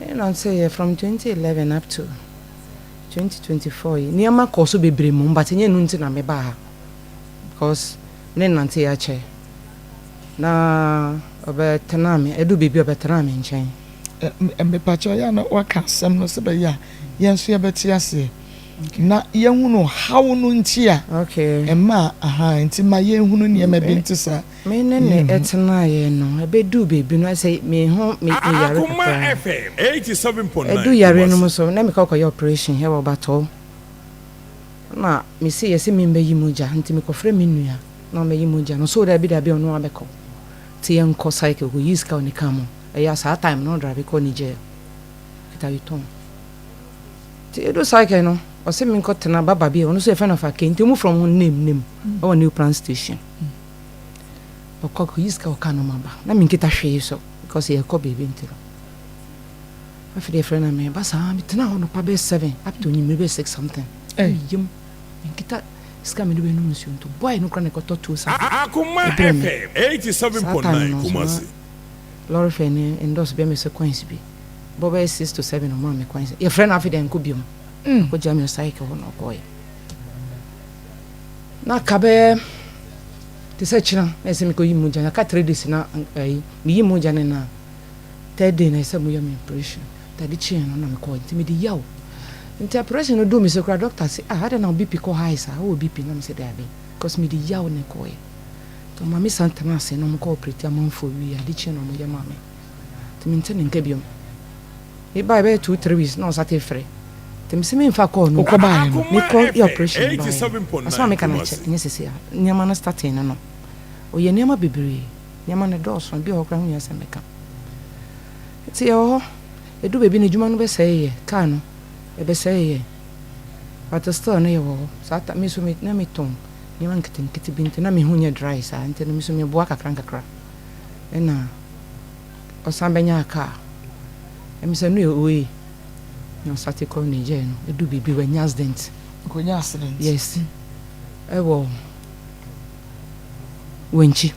Ɛnam sɛ yɛ from twenty eleven up to twenty twenty four yi nneɛma kɔɔ so bebree mmom but nyɛ ɛno nti na mebaa ha because me ne Nanteye akyɛ na ɔbɛtenaa me ɛduru baabi a ɔbɛtenaa me nkyɛn. Mepakyɛw yɛ a na waka asɛm no sɛ bɛyɛ a yɛn nso yɛbɛte aseɛ na yɛahunu haw no nti a ɛmaa aha nti ma yɛnhunu nneɛma bi nte saa. Me ne no tenaeɛ no, ɛbɛduu baabi no, na sɛ me ho me yare kakra a, ɛduu yareɛ no mu nso, na mekɔ kɔyɛ operation wɔ Batɔɔ. Ɛna me se yɛ se memmɛyi mogya, nti mekɔfrɛ me nua na ɔmmɛyi mogya no, ɔse o dabi dabi ɔno abɛkɔ. Nti yɛnkɔ cycle, ɔkɔyii sika wɔ ne car mu, ɛyɛ a saa time no na ɔdrive kɔ Niger, ɔkita Yutong. Nti yɛduu cycle no, ɔse menkɔtena Baba bi a ɔno nso yɛfrɛ no Afakei, nti ɔmu frɛ ɔmo ho Name Name wɔ New Plant Station. Hmm. Ɔkɔ kɔyi sika ɔka no ma ba. Na me nkita hwee so because yɛkɔ baabi nti no. Afei deɛ frɛ na me ba saa me tena hɔ no pa bɛyɛ seven up to nyimire bɛyɛ six something. Ɛyɛ eh. yam me nkita sika me de bɛ nom nsuo nto boy no kora na ɛkɔtɔ tuo saa. Akoma FM eighty seven point nine Kumasi. Lɔre fɛ ne endorse bɛ me sɛ coins bi bɔ bɛyɛ six to seven ɔmo a me coins yɛfrɛ no afei deɛ nkɔ biom. Mm. Akɔgya me cycle hɔ na ɔkɔɔyɛ. na ka bɛyɛ te sɛ kyena na ɛsɛ mekɔyi mu gya no ka three days na ɛyi meyi mu gya no na third day na ɛsɛ moyɛ me operation tade kyeɛ no na mekɔɔ nti mede yaw nti operation no duu me sɛ kora doctor se ah adɛn na bp kɔ high saa wowɔ bp na me sɛ daabi because mede yaw ne kɔɔɛ nti ɔma me san tena ase na ɔmokɔ operate amanfoɔ wie ade kyeɛ na ɔmoyɛ ma me nti mente ne nka biom Me bae bɛyɛ two three weeks na ɔsan te frɛ nti me se me nfa call no bi. Wokɔ baeɛ no me kɔ yɛ operation baeɛ no asem a meka no akyɛ nyɛ sese a nneɛma no starting no no ɔyɛ nneɛma bebree nneɛma no dɔɔso ebi wɔ hɔ koraa ho hia sɛ meka nti yɛwɔ hɔ edu baabi no adwuma no bɛsɛe yɛ car no ɛbɛsɛe yɛ but still no yɛwɔ hɔ saa ta me so me na me tɔn nneɛma nketenkete bi nti na me ho nyɛ dry saa nti no me so me boa kakra nkakra ɛna. ɔsan bɛnyaa kaa. Ɛm sɛ no yɛ oe na ɔsate kɔɔ Niger no, edu biribi wanya accident. Ɔkɔnya accident? Yes. Ɛwɔ Wenchi.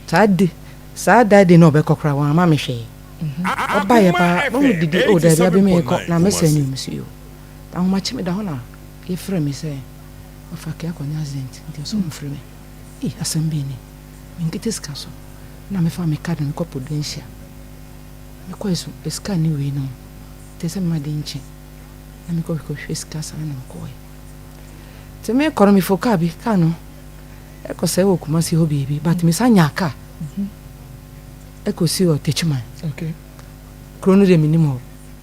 Saa de, saa that day na ɔbɛkɔ koraa wamma me hwee. Ɔbaeɛ paa, na ɔmo didi, oh daabi abi meekɔ, na me sɛn nneɛma si o. Ahomakye meda hɔ na yɛfrɛ me sɛ, Ɔfakɛ akɔnya accident nti ɔse ɔmfrɛ me. Ei, asɛm bɛn ni? me nkete sika so na me fa me card me kɔ Prudentia me kɔɛ so sika ne wei nom te sɛ me ma de nkye na me kɔ me kɔ hwɛ sika saa na me kɔɛ te me kɔ no me fo car bi car no ɛkɔ sɛ wɔ Kumasi hɔ bie bi but me sa nya car ɛkɔ si wɔ Techiman kuro no de me nim hɔ.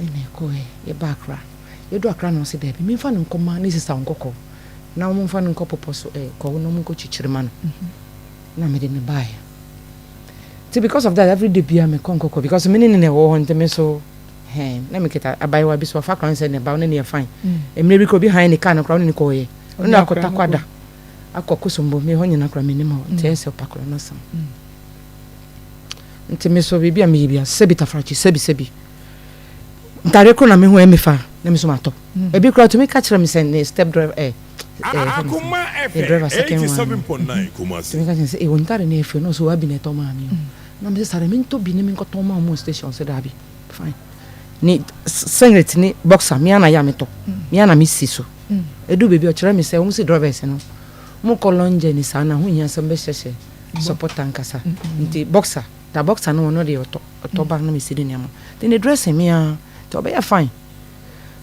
Ɛnna yɛkɔeɛ, yɛbaa Accra. Yɛduruu Accra na ɔse, Daabi, memfa no nkɔma ne sista nkɔkɔ, na wɔmfa no nkɔ bepɔ so ɛ, kɔɔ na wɔnkɔkyikyiri ma no. Na me de, mebaeɛ. Nti because of that, every day biara mekɔ nkɔkɔ because me ne no na ɛwɔ hɔ nti me nso hɛn, na mekita abaayewa bi so, ɔfa kora nsɛ na ɛba, ɔne no yɛ fine. Mmerɛ bi koraa obi hann ne kaa no koraa, ɔne no kɔeɛ. Ɔne no akɔ Takorada, akɔ Kosombo, me hɔ nyinaa koraa menim hɔ, nti ɛyɛ sɛ ɔpa koraa n'asɛm. nti me nso biribi a meyɛ bia sɛbi tafrakye sɛbi sɛbi ntade koro na mehu ɛmi fa na me nso matɔ mm. ebi kura tumi ka kyerɛ me sɛ ne step driver ɛ ɛ ne driver second one tumi ka kyerɛ sɛ ewu ntade na efe na ɔsɛ wabi na ɛtɔ maa mi o mm. na me sɛ sare me ntɔ bi ne me nkɔtɔ maa mu station sɛ daabi fine ne singlet ne boxer mia na yɛ a metɔ mia mm. na me si so edu beebi ɔkyerɛ me sɛ wɔn si drivers no mo kɔ long journey saa na ho hia sɛ mbɛhyɛhyɛ. support ankasa nti boxer da boxer no ɔno deɛ ɔtɔ ɔtɔ ba na mesi ne nneɛma nti ne dressing me ara nti ɔbɛyɛ fine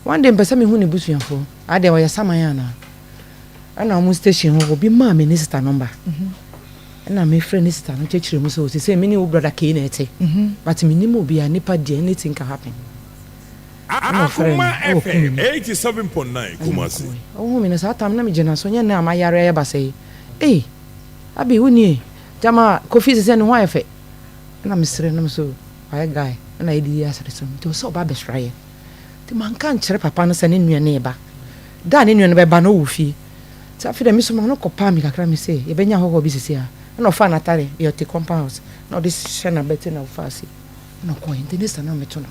one day mpɛ sɛ mehu ne busuafoɔ adɛn ɔyɛ saman anaa ɛna wɔn station hɔ obi maa me ne sista nɔmba ɛna mefrɛ ne sista no kyerɛkyerɛ mu sɛ ɔsi sɛ me ne wo brada kei na ɛte but menim obi a nipa deɛ anything can happen ɛna ɔfrɛ no ɛwɔ kumi mu ɛna mekɔe ɔhu me no saa tam na megyina so nyɛ nɛ a mayare ayɛ basɛe ee Abi wo nie gyama Kofi sɛ sɛ ne ho ayɛ fɛ ɛna me srɛ na me so wayɛ guy ɛna yɛ di yɛ asɛre so nti ɔsɛ ɔba abɛsra yɛ nti ma nka nkyerɛ papa no sɛ ne nua no reba da a ne nua no bɛba no ɔwɔ fie nti afei dɛ me so ma no kɔ paa mi kakra me sɛ yɛ bɛnya hɔhɔ bi sisi a ɛna ɔfaa natare yɛ ɔte compound house na ɔde hyɛ na bɛte na ɔfaa si ɛna ɔkɔɛ nti ne sa na me to no.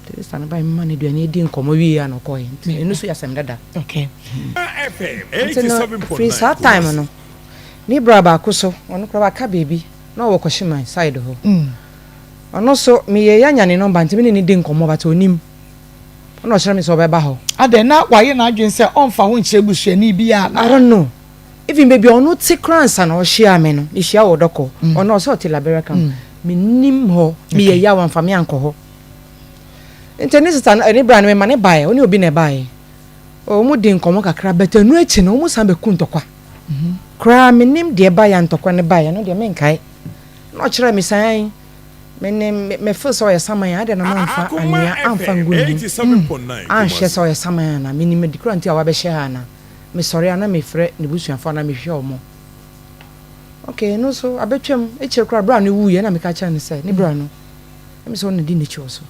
Teresa ne bae maa no aduan no dii nkɔmmɔ wiei a na ɔkɔe. Nti ɛno nso yɛ asɛm dada. Okay. Nti no, firi saa time no, ne bra baako so, ɔno koraa waka baabi, na ɔwɔ Kwashiman side hɔ. Ɔno nso, meyɛɛ ya nya ne number nti me ne no di nkɔmmɔ but ɔnim. Ɛna ɔkyerɛ me sɛ ɔbɛba hɔ. Adɛn, na wayɛ n'adwene sɛ ɔmfa wo nkyerɛ busuani bi a na? I don't know. even baabi a ɔno te koraa nsa na ɔhyiaa me no mehyia wɔ dɔkɔ mm. ɔno ɔsɛ ɔte labɛrɛ kam mm. menim hɔ meyɛ yaw amfa me ankɔ hɔ nti ne sista no ɛne bra no mema ne baeɛ ɔne obi na ɛbaeɛ wɔn di nkɔmɔ kakra bɛtɛ ɛnu akyi no wɔn san bɛku ntɔkwa mhm. koraa menim deɛ baeɛ ntɔkwa ne baeɛ no deɛ menkae na ɔkyerɛ me san mene mefo sɛ ɔyɛ saman a adɛn na mamfa anwea amfa ngu ne mu mm. anhwɛ sɛ ɔyɛ saman ana menim adi kora nti a wabɛhyɛ ha ana mesɔre a na mefrɛ n'ebusuafo anaa mehwehwɛ wɔn. Ok, no nso abɛtwam, ekyir koraa bra no wuiɛ na meka kyerɛ no sɛ ne bra no na mesɛ ɔno na di n'ekyir wɔ so.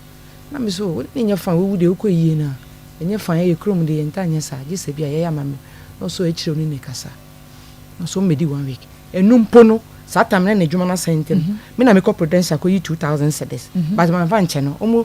Na me so ne nyɛ fine, woewu deɛ wokɔ eyie no a ɛnyɛ fine, yɛyɛ kurom deɛ yɛntaa nyɛ saa gye sɛ bi a yɛyɛ ama me na ɔsɔ ekyir ɔne no rekasa. Na ɔsɔ mbɛdi one week. Eno mpo no saa time no na edwuma no asɛe ntɛm, me na mekɔ Prudential kɔyi two thousand cedis but mamfa nkyɛ no, wɔn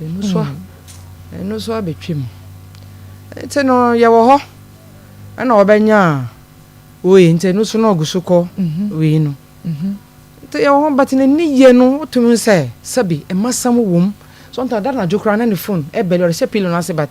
Ɛno so a, ɛno so abɛtwam. Nti no, yɛwɔ hɔ na wɔbɛnya a, woi, nti ɛno so na ɔgu so kɔ wei no. Nti yɛwɔ hɔ, but n'ani yɛ no, wotumi hu sɛ sɛbi mmasɛm wom. Sometimes, da anadwo koraa na ne phone ɛbɛli, ɔde hyɛ pillow no ase but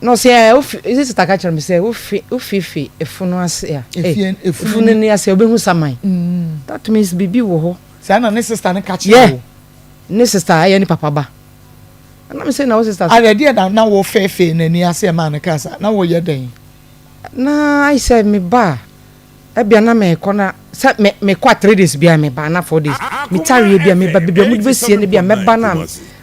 Na ɔsɛ ɛ wofi ɛsɛ sita ka kyerɛ me sɛ wofi wofifi efunu ase a efie efunu ni ase obehu saman mm. that means bibi wɔ hɔ saa na ne sista ne ka kyerɛ wo ne sista ɛyɛ ne papa ba ɛna me sɛ na wo sista so adeɛ na na wo fɛfɛ n'ani ase ɛma ne ka sa na woyɛ dɛn na ayɛ sɛ me ba a Ebia na mekɔ na sɛ me mekɔ a three days biara meba anaa four days. Metaa wie bi a meba baabi a wɔde bɛsie no bi a mɛba no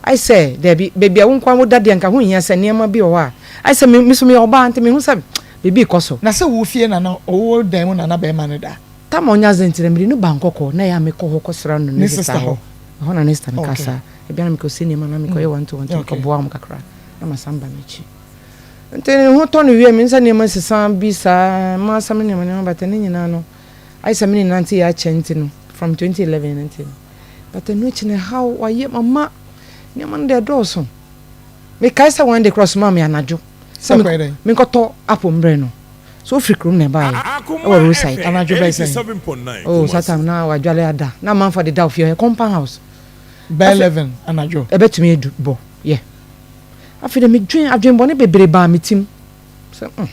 a ayɛ sɛ daabi baabi a wo nko ara woda deɛ anka ɛho nhia sɛ nneɛma bi wɔ hɔ a ayɛ sɛ me me nso meyɛ ɔbaa nti mehu sɛ biribi rekɔ so. Na sɛ wo fie na na wo wo dan mu na na barima no da. Tam a ɔnyɛ adze ntsi na mede no baa nkɔkɔɔ na ɛyɛ a mekɔ hɔ kɔsera no ne sista hɔ. Ɛhɔ na ne sista no kaa saa. Ebia na mekɔsie nneɛma anaa mekɔyɛ one two one two mekɔboaa wɔn kakra na masan ba m'akyi. Nti ne ho tɔ no wia, me nsa nneɛma sesa bi saa, m'asɛm nneɛma nneɛma bata ne nyinaa no. Ayɛ sɛ me ne nante yɛ akyɛ nti no, from 2011 no nti no. But ɛno akyi no ɛhaw, wayɛ mama, nneɛma no deɛ ɛdɔɔso. Mekae sɛ one day kora ɔsomaa me anadwo sɛ menkɔtɔ apple mbrɛ no. So ofiri kurom na ɛbaeɛ, ɛwɔ roadside, anadwo bɛyɛ sɛ, oh saa time na wadwale ada, na amanfoɔ adeda ofie hɔ, ɛyɛ compound house. Bɛyɛ 11 anadwo. Ɛbɛtumi adu bɔ, yeah. Afei de medwen adwenbɔne bebree baa me tim sɛ mm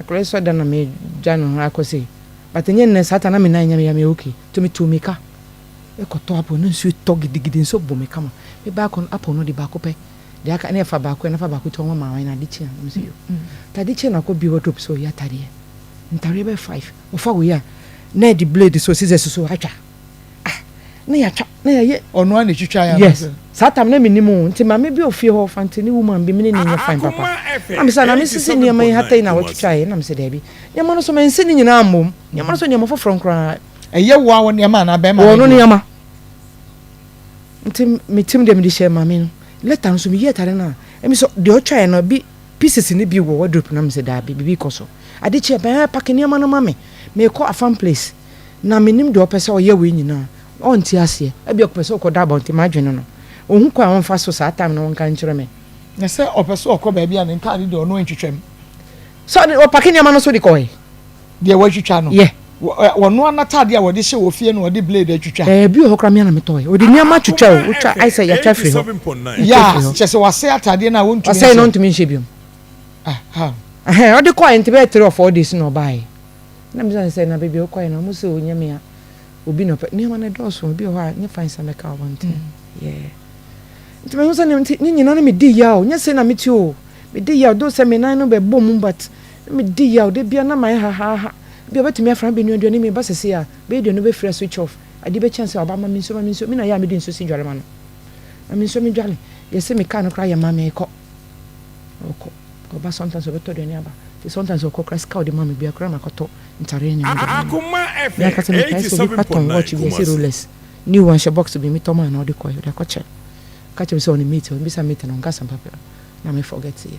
akwadaa yi so ada na megya no ara kɔ sei but ɛnyɛ nnɛ saa ta na me nan nya me ya me okay nti metu me ka ɛkɔtɔ apple na nsuo tɔ gidigidi nso bɔ me kama me baa kɔ no apple no de baako pɛ de aka ne ɛfa baako ɛna fa baako ti ɔma maa na ade kyi a na mesɛ yo tade kyi na akɔ bi wardrobe so ɔyɛ atadeɛ ntareɛ bɛyɛ five ɔfa wei a na ɛde blade so scissors so atwa ah na yɛatwa na yɛyɛ ɔno a na ɛtwitwa yɛ yes saa tam na menim o nti maame bi ofie hɔ fantini woman bi mene ne nyɛ fan papa na mesɛ na mesisi nneɛma yi hatɛi na wɔtwitwa yɛ na mesɛ daabi nneɛma no so mansi ne nyinaa mmom nneɛma no so nneɛma foforɔ nkoraa ɛyɛ wo a wo nneɛma anaa bɛrima wɔ no nneɛma nti metim deɛ mede hyɛ maame no lɛta nso meyi atare no a ɛmi sɛ deɛ ɔtwa yɛ no bi pieces no bi wɔ wardrobe na mesɛ daabi biribi kɔ so ade kyeɛ bɛn pake nneɛma no ma me mekɔ afam place Na mennim deɛ ɔpɛ sɛ ɔyɛ wei nyinaa. Na ɔnte aseɛ. Ebia ɔpɛ sɛ ɔkɔda abɔnten, m'adwene no. Ɔhu kwan a ɔmfa so saa time no ɔnka nkyerɛ me. Na sɛ ɔpɛ sɛ ɔkɔ baabi a ne ntaade deɛ ɔno ntwitwa mu. Sɛ ɔde, ɔpake nneɛma no nso de kɔe. Deɛ watwitwa no. Yɛ. Wɔnoa n'atadeɛ a wɔde hyɛ wɔ fie no ɔde blade atwitwa. Ɛɛ, ebi wɔ hɔ koraa me ara na metɔe. Ɔde nneɛma twitwa o, wotwa, ayɛ sɛ yɛatwa afiri hɔ. Yɛ a, kyerɛ sɛ wasɛe atadeɛ no a ɔntumi nhyɛ. Wasɛe na ɔntumi nhyɛ bio. Ahaa. Ɛhɛn, ɔde kɔe nte bɛyɛ three or four days na ɔbaeɛ. na mebisa no sɛ, na baabi a wokɔe no, wɔse o nyɛ me a, obi na ɔpɛ, nneɛma no dɔɔso, obi wɔ hɔ a nyɛ fine sɛ mɛka abɔnten, yeah. Nti mehu sɛ ne nti ne nyinaa no medi yaw, nyɛ sei na mete o, medi yaw, though sɛ me nan no bɛbɔ mu but na medi yaw, da biara na mayɛ hahaaha, ebia ɔbɛtumi afra me abɛnoa aduane, na meba seesei a, bɛyɛ aduane no bɛfiri a switch off, adeɛ bɛkye ansa a ɔba, ma me nsuo, ma me nsuo, me na yɛ a mede nsuo si dware ma no, ma me nsuo medware, deɛ ɛse me kaa no koraa yɛ ma me, kɔ, ɔkɔ. Ɔba sometimes ɔbɛtɔ aduane aba nti sometimes ɔkɔ koraa sika a ɔde ma me biara koraa makɔtɔ ntare ne nneɛma de ama no. Me ankasa mekae sɛ obi koraa tɔn watch bi ɔse Rolex new wanhyɛ box bi metɔ maa no a ɔde kɔe ɔde akɔkyɛ me. Ɔka kyerɛ me sɛ ɔne mate ɔmmisa mate no ɔnka asɛmpa biara na me forget yɛ.